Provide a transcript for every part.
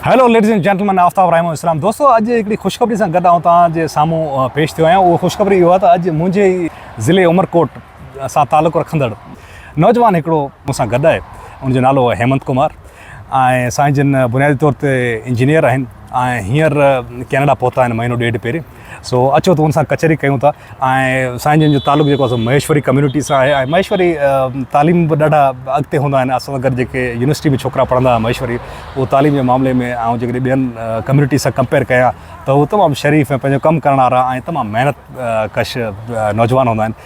Hello ladies and gentleman Aftab Rahim اسلام دوستو اڄ هڪڙي خوشخبري سان گڏ آئون توهان جي سامهون پيش ٿيو آهيان اهو خوشخبري اهو آهي ته اڄ منهنجي ئي ضلعي عمرڪوٽ سان تعلق رکندڙ نوجوان هڪڙو مون سان گڏ آهي ان جو نالو آهي هيمنت ڪمار ۽ سائين جن بنيادي طور تي انجنيئر آهن ۽ هينئر ڪينيڊا پهتا آهن مهينو ڏيڍ پهرين سو اچو ته ان سان ڪچهري ڪيون ٿا ۽ سائين جن جو تعلق جيڪو آهي سو مهيشوري ڪميونٽي سان آهي ۽ مهيشوري تعليم به ڏاڍا اڳتي هوندا آهن اسان سان گڏ جيڪي يونيورسٽي ۾ ڇوڪرا پڙهندا هئا مهيشوري اهو تعليم جي معاملي ۾ آئون جيڪڏهن ٻين ڪميونٽي سان ڪمپيئر ڪيان ته هو تمام شريف ۽ پنهنجو ڪم ڪرڻ وارا ۽ تمام محنت ڪش نوجوان هوندا آهن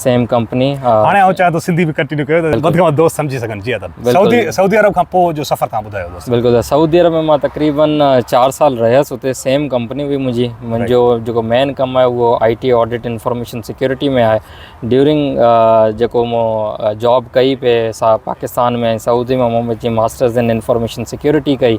سيم ڪمپني هاڻي آئون چاهيان ٿو سنڌي به ڪنٽينيو ڪيو ته وڌ کان وڌ دوست سمجهي سگهن جي ادب سعودي سعودي عرب کان پوء جو سفر تان ٻڌايو دوست بلڪل سعودي عرب ۾ مان تقريبن 4 سال رهيس اتي سيم ڪمپني هئي منهنجي منهنجو جيڪو مين ڪم آهي اهو I T audit information security ۾ آهي ڊيورنگ جيڪو مو جاب ڪئي پي سا پاڪستان ۾ سعودي ۾ مون جي ماسٽرز ان انفارميشن سيڪيورٽي ڪئي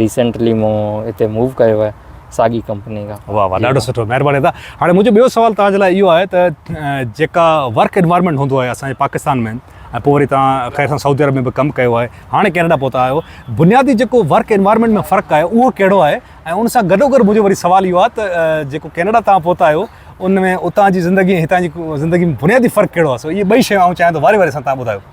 ريسينٽلي مون هتي موو ڪيو آهي ساڳي ڪمپني کان واهه واهه ڏاڍو سٺو مهرباني ادا هاڻي منهنجو ٻيو سوال توهان جي لاء اهو آهي ته جيڪا ورڪ انوائرمنٽ هوندو آهي اسان جي پاڪستان ۾ ۽ پوء وري توهان خير سان سعودي عرب ۾ به ڪم ڪيو آهي هاڻي ڪينيڊا پهتا آهيو بنيادي جيڪو ورڪ انوائرمنٽ ۾ فرق آهي اهو ڪهڙو آهي ۽ ان سان گڏو گڏ منهنجو وري سوال اهو آهي ته جيڪو ڪينيڊا توهان پهتا آهيو ان ۾ اتان جي زندگي ۽ هتان جي زندگي ۾ بنيادي فرق ڪهڙو آهي سو اهي ٻئي شيون آئون چاهيان ٿو واري واري سان توهان ٻڌايو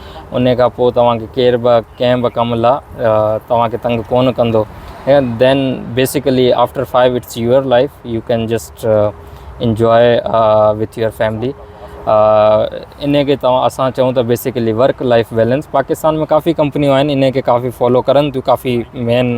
انهي کان پوء توهان کي ڪير به ڪنهن به ڪم لا توهان کي تنگ ڪونه ڪندو and then basically after five it's your life you can just enjoy with your family انهي کي توهان اسان چئون ته basically work life balance Pakistan ۾ ڪافي ڪمپنيون آهن انهي کي ڪافي فالو ڪرن ٿيون ڪافي مين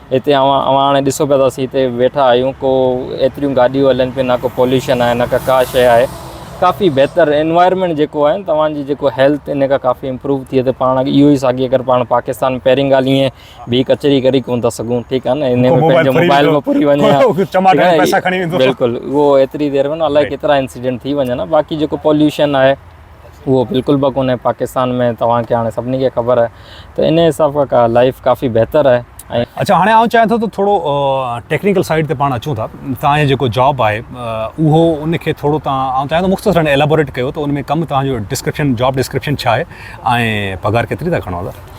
هتي اوهان اوهان هاڻي ڏسو پيا ته اسين هتي ويٺا آهيون ڪو ايتريون گاڏيون هلن پيون نه ڪو پوليوشن آهي نه ڪا ڪا شيء آهي ڪافي بهتر انوائرمينٽ جيڪو آهي توهان جي جيڪو هيلٿ ان کان ڪافي امپروو ٿئي ته پاڻ اهو ئي ساڳي اگر پاڻ پاڪستان ۾ پهرين ڳالهه ائين به ڪچهري ڪري ڪونه ٿا سگهون ٺيڪ آهي نه ان ۾ پنهنجو موبائل به پوري وڃي ها بلڪل اهو ايتري دير ۾ نه الائي ڪيترا انسيڊنٽ ٿي وڃن ها باقي جيڪو پوليوشن آهي اهو بلڪل به ڪونهي پاڪستان ۾ توهان کي هاڻي سڀني کي خبر آهي ته ان حساب کان لائيف ڪافي بهتر آهي ۽ اڇا هاڻي آئون چاهيان ٿو ته ٿورو ٽيڪنيڪل سائيڊ تي پاڻ اچون ٿا توهان جو جيڪو جاب آهي اهو ان کي ٿورو توهان آئون چاهيان ٿو مختصرا ايلابوريٽ ڪيو ته ان ۾ ڪم توهان جو ڊسڪرپشن جاب ڊسڪرپشن ڇا آهي ۽ پگهار ڪيتري ٿا کڻو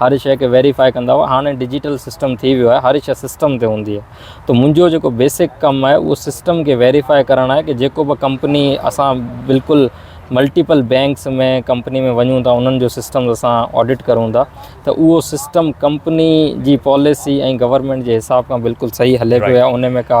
هر شيء کي ويريفائي ڪندا هئا هاڻي ڊجيٽل سسٽم ٿي ويو آهي هر شيء سسٽم تي هوندي آهي ته منهنجو جيڪو بيسڪ ڪم آهي اهو سسٽم کي ويريفائي ڪرڻ آهي ڪي جيڪو به ڪمپني اسان بلڪل ملٽيپل بينڪس ۾ ڪمپني ۾ وڃون ٿا انهن جو سسٽم اسان آڊٽ ڪرون ٿا ته اهو سسٽم ڪمپني جي پاليسي ۽ گورنمينٽ جي حساب کان بلڪل صحيح هلي پيو يا ان ۾ ڪا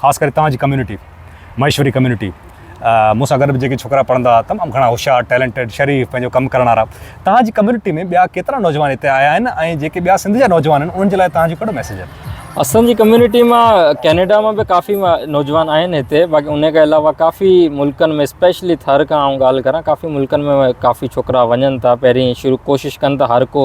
خاص ڪري توهان جي ڪميونٽي مهيشوري ڪميونٽي مون سان گڏ به جيڪي ڇوڪرا پڙهندا هئا تمام گهڻا هوشيار ٽيلنٽيڊ شريف پنهنجو ڪم ڪرڻ وارا توهان جي ڪميونٽي ۾ ٻيا ڪيترا نوجوان هتي آيا آهن ۽ جيڪي ٻيا سنڌ جا نوجوان آهن انهن جي لاء توهان جو ڪهڙو ميسيج آهي اسان جي ڪميونٽي مان ڪينيڊا مان به ڪافي نوجوان آهن هتي باقي ان کان علاوه ڪافي ملڪن ۾ اسپيشلي ٿر کان آئون ڳالهه ڪران ڪافي ملڪن ۾ ڪافي ڇوڪرا وڃن ٿا پهرين شروع ڪوشش ڪن ٿا هر ڪو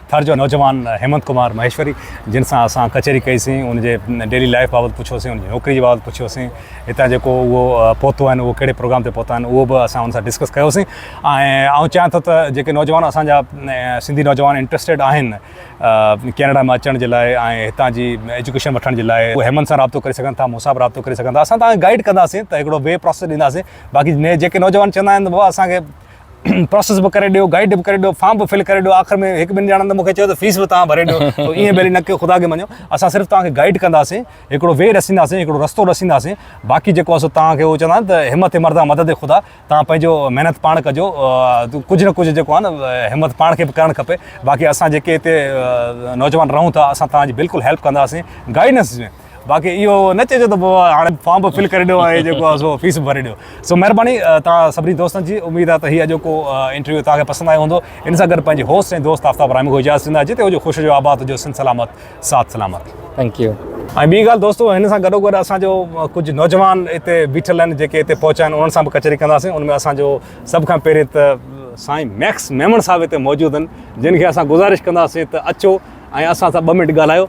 ٿر جو نوجوان هيمنت ڪمار مهيشوري جن سان اسان ڪچهري ڪئي سين ان جي ڊيلي لائف بابت پڇيو سين ان جي نوڪري جي بابت پڇيو سين هتان جيڪو اهو پهتو آهن اهو ڪهڙي پروگرام تي پهتا آهن اهو به اسان ان سان ڊسڪس ڪيو سين ۽ آئون چاهيان ٿو ته جيڪي نوجوان اسان جا سنڌي نوجوان انٽرسٽيڊ آهن ڪينيڊا ۾ اچڻ جي لاء ۽ هتان جي ايجوڪيشن وٺڻ جي لاء اهي هيمنت سان رابطو ڪري سگهن ٿا مون سان به رابطو ڪري سگهن ٿا اسان تان گائيڊ ڪنداسين ته هڪڙو وي پروسيس ڏينداسين باقي جيڪي نوجوان چوندا آهن ته بابا اسان کي پروسيس به ڪري ڏيو گائيڊ به ڪري ڏيو فارم به فل ڪري ڏيو آخر ۾ هڪ ٻن ڄڻن ته مونکي چيو ته فيس به توهان ڀري ڏيو تو ائين ڀلي نه ڪيو خدا کي مڃيو اسان صرف توهان کي گائيڊ ڪنداسين هڪڙو وي ڏسينداسين هڪڙو رستو ڏسينداسين باقي جيڪو اسو توهان کي هو چوندا آهن ته همت مردا مدد خدا توهان پنهنجو محنت پاڻ ڪجو ڪجهه نه ڪجهه جيڪو آهي نه همت پاڻ کي به ڪرڻ کپي باقي اسان جيڪي هتي نوجوان رهون ٿا اسان توهان جي بلڪل هيلپ ڪنداسين گائيڊنس باقي اهو نه چئجو ته بابا هاڻي فارم به فل ڪري ڏيو ۽ جيڪو آهي سو فيس به ڀري ڏيو. سو مهرباني توهان سڀني دوستن جي. اميد آهي ته هي اڄوڪو انٽرويو توهان کي پسند آيو هوندو. ان سان گڏ پنهنجي هوسٽ ۽ دوست آفتاب رحمي کان اجازت ڏيندا. جتي هجو خوش هجو آباد هجو سنڌ سلامت ساٿ سلامت. Thank you. ۽ ٻي ڳالهه دوستو هن سان گڏو گڏ اسان جو ڪجهه نوجوان هتي بيٺل آهن جيڪي هتي پهچا آهن انهن سان به ڪچهري ڪنداسين ان ۾ اسان جو سڀ کان پهرين ته سائين ميڪس ميمڻ صاحب هتي موجود آهن جن کي اسان گذارش ڪنداسين ته اچو ۽ اسان سان ٻه منٽ ڳالهايو.